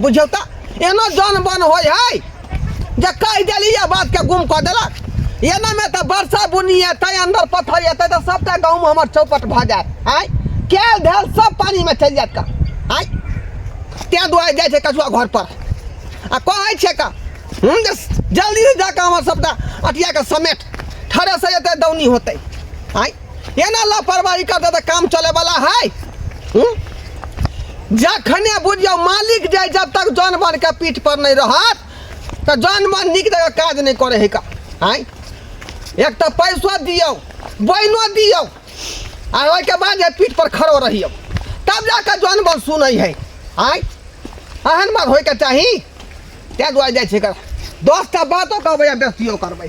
बुझियौ तऽ एना जन बन होइ है जे कहि देलियै बातके गुम कऽ देलक एनामे तऽ वर्षा बुनी एतै अन्दर पत्थर एतै तऽ सभटा गाँवमे हमर चौपट भऽ जायत आँय कयल धयल सभ पानिमे चलि जायत का आँय तैँ दुआरे जाइ छै कछुआ घरपर आ कहै छै का हूँ जे जल्दी जाकऽ हमर सभटा अटियाके समेट ठरे से एतै दौनी होतै आँय एना लापरवाही करते तऽ काम चले वाला है हूँ? जखने बुझियौ मालिक जे जब तक जानवर के पीठ पर नहीं रहत तऽ जानवर नीक जगह काज नहीं करे है का आय एक तऽ पैसो दियौ बैनो दियौ आ ओहिके बाद जे पीठ पर खड़ो रहियौ तब जाके जानवर सुनै है आय एहन बात होइके चाही ताहि दुआरे जाइ छै एकर दस टा बातो कहबै आ बेसियो करबै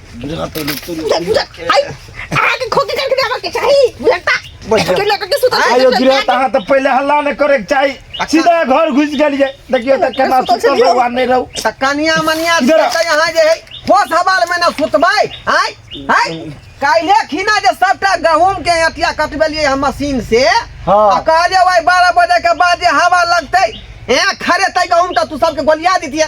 पहले हल्ला नहीं करे चाहिए अच्छा। सीधा घर घुस गलिए देखियो त केना तो सुतल भगवान नहीं रहू त कनिया मनिया त यहां जे है होश हवाल में ना सुतबै आय आय काइले खिना जे सबटा गहूम के अटिया कटबेलिए हम मशीन से हां आ कहलिए ओइ 12 बजे के बाद जे हवा लगतै ए खरे तै गहूम त तू सबके गोलिया दितिए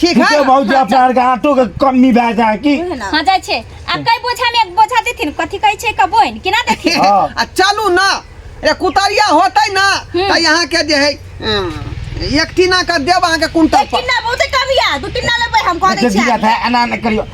ठीक है भौजी अपना आर के आटो के कमी भए जाए की हां जाय छै आ कई बोझा में एक बोझा देथिन कथि कहै छै कबोइन किना देथिन हां आ चलू ना ए कुतरिया होतै ना हम्म। त यहां के जे है एक टीना कर देब अहाँ के कुंटल पर टीना बहुते कम या दू टीना लेबै हम कह दै छी एना एना करियो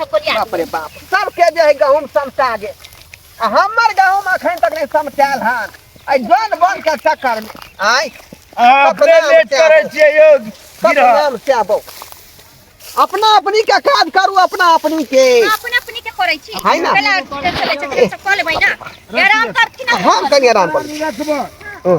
बाप रे बाप सबके जे है गहूँम समटा गेल आ हमर गहूँम अखन तक नहि समटायल हन एहि जन बन के चक्कर मे आय अहाँ अपने अपना लेट बचा करै कऽ। छियै यौ सब गिरह नाम से आबो अपना अपनी के काज करू अपना अपनी के अपन अपनी के करै छी है ना? पहिले चले चले सब कऽ लेबै ना आराम करथिन हम कनी आराम करू रखबह ओ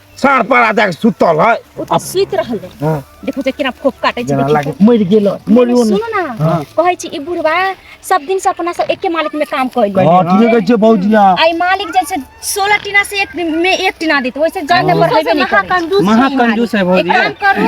साँढ़ पड़ा जाके सुतल है ओ तऽ सुति रहल है। हाँ। देखो जे केना फोफ काटे छै जेना देखी लागे तऽ। मरि गेल है, मरि ओने। सुनू ना हाँ। कहै छी ई बुढ़वा सब दिन से अपना सब एके मालिक में काम कइल हाँ ठीक कहै छै भौजी हाँ। आई मालिक जैसे सोलह टीना से एक में एक टीना देते वैसे जड़ में बढ़ेबे नहीं करे महाकंजूस महाकंजूस है भौजी एक काम करू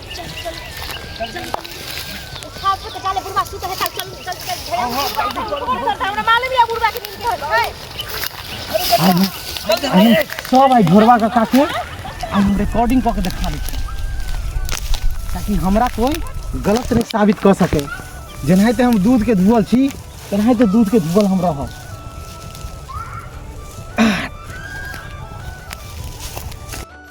सब आई ढोरवा का काके आ हम रिकॉर्डिंग कऽ के देखा दै छी। ताकि हमरा कोई गलत नहीं साबित कऽ सके जेनाहिते हम दूध के धुअल छी तेनाहिते दूध के धुअल हम रहब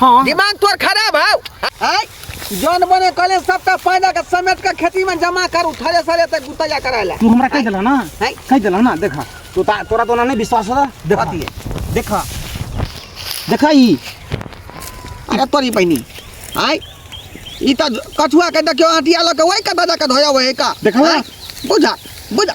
हाँ दिमाग तोर खराब है आय जन बने कले सबटा पैदा के समेट के खेती में जमा करू थरे सरे तक गुतैया करायला तू हमरा कह देला ना हैं? कह देला ना देखा तू ता, तोरा तो ना नहीं विश्वास होता देखा कथी है? देखा देखा ई अरे तोरी बहिनी आय ई त कछुआ के देखियो आटिया लके वही के दादा के धोया वही का देखला? आय, बुझा बुझा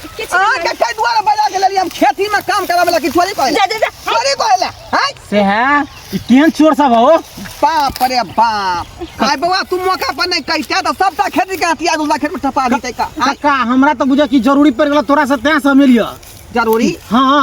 अहाँके कई दुआरे बजा के लेलियै हम खेती में काम करावे ला कि थोड़ी कहले जा जा जा थोड़ी कहले हैं से है ई केहन चोर सब हो बाप रे बाप आय बउआ तू मौका पर नहीं कहिते तो सबटा खेती के हथियार उला खेत में ठपा देते का आय काका हमरा तो बुझा कि जरूरी पड़ गेल तोरा से तें से मिलियो जरूरी हाँ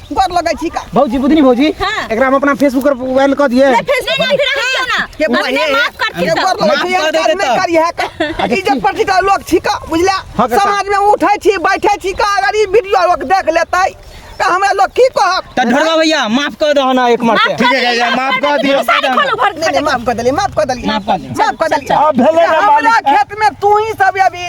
गोर लगै छी का भौजी बुधनी भौजी हाँ। एकरा हम अपना फेसबुक पर वायरल कर दिए नहीं फेसबुक नहीं, पर नहीं, क्यों ना के बोले हमने माफ कर के दिया गोर लगै माफ छी कर दे में देता। करी है का इज्जत पर छी का लोग छी का बुझला हाँ, काका। समाज में उठै छी बैठै छी का अगर ई वीडियो लोग देख लेतै त हमरा लोग की कहत त ढोरवा भैया माफ कर दो ना एक मार माफ के कर ठीक है, दिया, माफ कर कर दिया, दिया, सारे खोलो भर नहीं नहीं माफ कर देली माफ कर देली माफ कर देली। माफ कर देली अब भेलै ना अब मालिक। हमरा खेत में तू ही सब अभी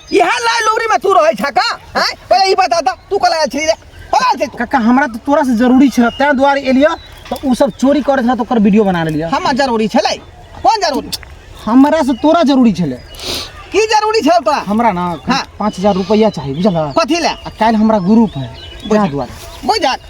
इहे लाय लोगरी में तू रहै छका हैं पहिले ई बता ता तू कला छी रे होगा से तू काका हमरा तो तोरा से जरूरी छे तैं दुआरे एलिया तो उ सब चोरी करे छे तो ओकर वीडियो बना लेलिया हम जरूरी छलै कोन जरूरी हमरा से तोरा जरूरी छले की जरूरी छल तोरा हमरा ना हाँ। पाँच हजार रुपया चाहिए बुझल कथी ले आ काल्हि हमरा ग्रुप है बुझल। तैं दुआरे बुझक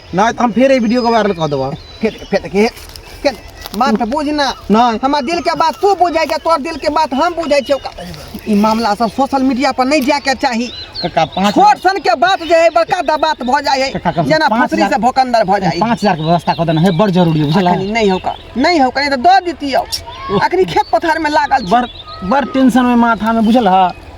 नहि तऽ हम फेर एहि वीडियोके वायरल कऽ देबह फेर फेर के के बात तऽ बुझ ना नहि हमर दिल के बात तू बुझै छै तोर दिल के बात हम बुझै छियौ ई मामला सब सोशल मीडिया पर नहि जायके चाही काका पाँच छोट सन के बात जे है बड़का दा बात भऽ जाइ है काका, जेना पाँच फसरी हजार- से भोकंदर भऽ जाइ है पाँच हजारके व्यवस्था कऽ देना है बड़ जरूरी है बुझल अखनी नहि होका नहि होका तऽ दऽ दितियौ अखनी खेत पथार में लागल छी। बड़ बड़ टेंशन में माथा में बुझल है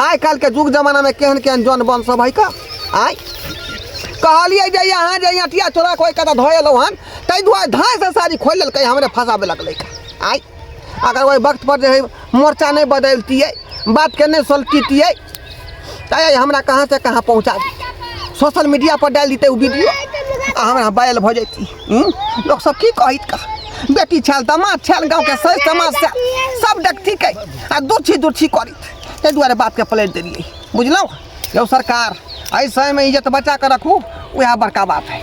आइ काल्हिके जुग जमानामे केहन केहन जन बन सब है का आइ कहलियै जे यहाँ जे अटिया चोरा कोइ कतऽ धऽ एलहुँ हन ताहि दुआरे धाँसँ साड़ी खोलि लेलकै हमरे फँसाबे लगलै आइ अगर ओहि वक्त पर जे है मोर्चा नहि बदलतियै बातके नहि सोलटितियै तऽ हमरा कहाँ से कहाँ पहुँचा सोशल मीडिया पर डालि दितै ओ वीडियो आ हमरा बैल भऽ जैती लोक सब की कहैत का बेटी छल दामाद छल गाँव के सही समाज से सब देखती के आ दूछी दूछी करी ताहि दुआरे बात के पलट देलिए बुझलहुँ यौ सरकार एहि समय में इज्जत बचा के रखू वह बड़का बात है